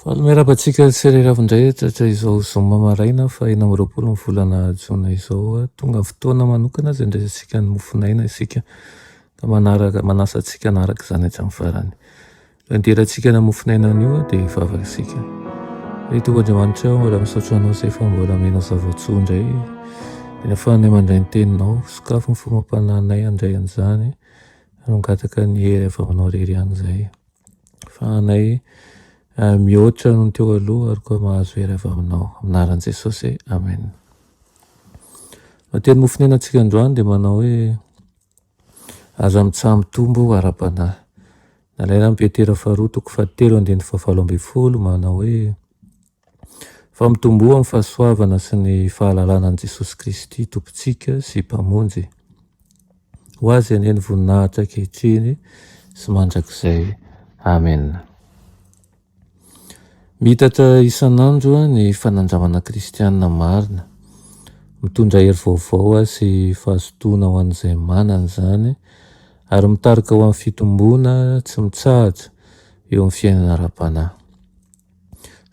Faly miarahaba antsika sy Ray Ravindrehetra izao zoma maraina faha enina amby roapolo ny volana jona izao. Tonga ny fotoana manokana izay handraisantsika ny mofon'aina isika ka manaraka, manasa antsika hanaraka izany hatramin'ny farany. Raha nidirantsika ny mofon'aina anio dia hivavaka isika. Ry Tompo Andriamanitra ô, mbola misaotra Anao izay fa mbola omena zava-tsoa indray. Dia ahafahanay mandray ny Teninao. Sokafy ny fomba am-panahinay handray an'izany ary mangataka ny hery avy Aminao irery ihany izahay. fahanay mihoatra noho ny teo aloha ary koa mahazo hery avy aminao amin'anaran'i Jesosy amen Matery mofonena antsika androany dia manao hoe aza mitsaha mitombo ara-panahy nalaina amin'ny Petera faharoa toko fahatelo andininy fahafalo ambin'ny folo manao hoe Fa mitomboa amin'ny fahasoavana sy ny fahalalana an'i Jesosy Kristy Tompontsika sy Mpamonjy. Ho Azy anie ny voninahitra ankehitriny sy mandrakizay. Amena. Miitatra isan'andro ny fanandramana kristianina marina. Mitondra hery vaovao sy fahazotoana ho an'izay manana izany ary mitarika ho amin'ny fitomboana tsy mitsahatra eo amin'ny fiainana ara-panahy.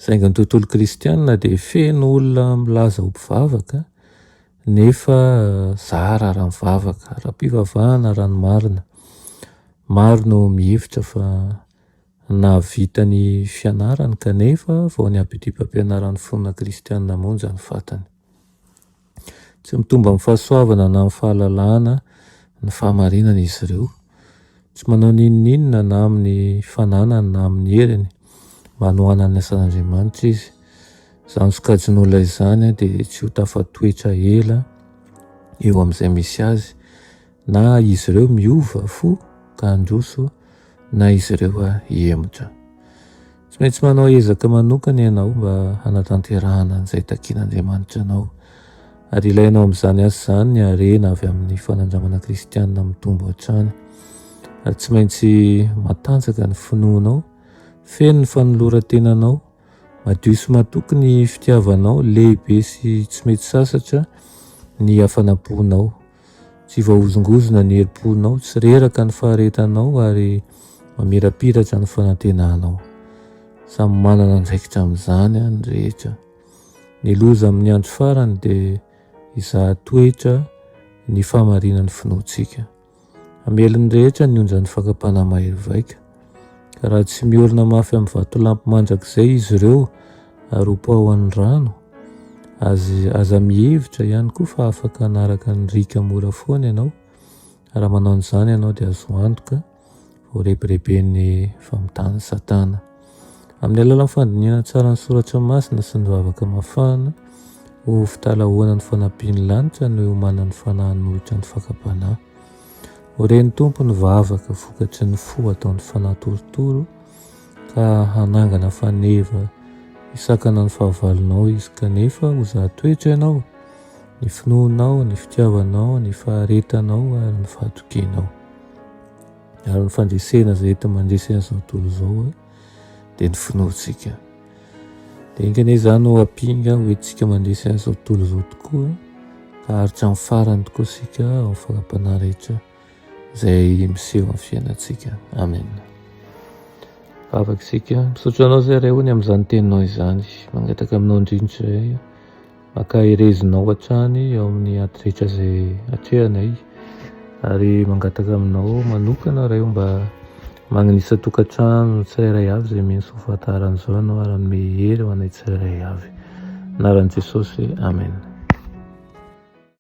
Saingy ny tontolo kristianina dia feno olona milaza ho mpivavaka nefa zara raha mivavaka, ara-pivavahana raha ny marina. Maro no mihevitra fa nahavita ny fianarany kanefa vao ny abidim-pampianaran'ny finoana kristianina monja no fantany. Tsy mitombo amin'ny fahasoavana na amin'ny fahalalahana ny fahamarinana izy ireo. Tsy manao n'inon'inona na amin'ny fananany na amin'ny heriny mba hanohanany ny asan'Andriamanitra izy. Izany sokajin'olona izany dia tsy ho tafatoetra ela eo amin'izay misy azy Na izy ireo miova fo ka handroso na izy ireo hihemotra. Tsy maintsy manao ezaka manokana ianao mba hanatanterahana an'izay takin'Andriamanitra anao. Ary ilainao amin'izany asa izany ny harena avy amin'ny fanandramana kristianina mitombo hatrany. Ary tsy maintsy matanjaka ny finoanao, feno ny fanoloran-tenanao, madio sy matoky ny fitiavanao, lehibe sy tsy mety sasatra ny hafanam-ponao. Tsy voahozongozona ny herim-ponao, tsy reraka ny faharetanao ary mamirapiratra ny fanantenanao. Samy manana andraikitra amin'izany ny rehetra. Ny loza amin'ny andro farany dia hizaha toetra ny fahamarinan'ny finoantsika. Hamely ny rehetra ny onjan'ny fakam-panahy mahery vaika. Ka raha tsy miorina mafy amin'ny vatolampy mandrakizay izy ireo ary hopaohan'ny rano, aza, aza mihevitra ihany koa fa afaka hanaraka ny riaka mora foana ianao. Raha manao an'izany ianao dia azo antoka voarebireben'ny famotan'i Satana. Amin'ny alalan'ny fandinihana tsara ny soratra masina sy ny vavaka mafana, ho fitalahoana ny fanampian'ny lanitra no iomanan'ny fanahy hanohitra ny fakam-panahy. Ho ren'ny Tompo ny vavaka vokatry ny fo ataon'ny fanahy torotoro ka hanangana faneva hisakana ny fahavalonao izy kanefa ho zahatoetra ianao ny finoanao ny fitiavanao ny faharetanao ary ny fahatokianao ary ny fandresena izay ety mandresena izao tontolo izao dia ny finoantsika Dia enga anie izany ho ampinga ho entintsika mandresy azy izao tontolo izao tokoa ka haharitra amin'ny farany tokoa isika ao fara-panahy rehetra izay miseho amin'ny fiainantsika. Amen. Vavaka isika. Misaotra anao izay Ray o ny amin'izany teninao izany. Mangataka aminao indrindra izay. Ankaherezinao hatrany ao amin'ny ady rehetra izay atrehanay ary mangataka aminao manokana ray o mba magnanisa tokantrano tsirairay avy izay mino soa fahatarana izao ianao ary hanome hery ho anay tsirairay avy. Anaran'i Jesosy, Amen.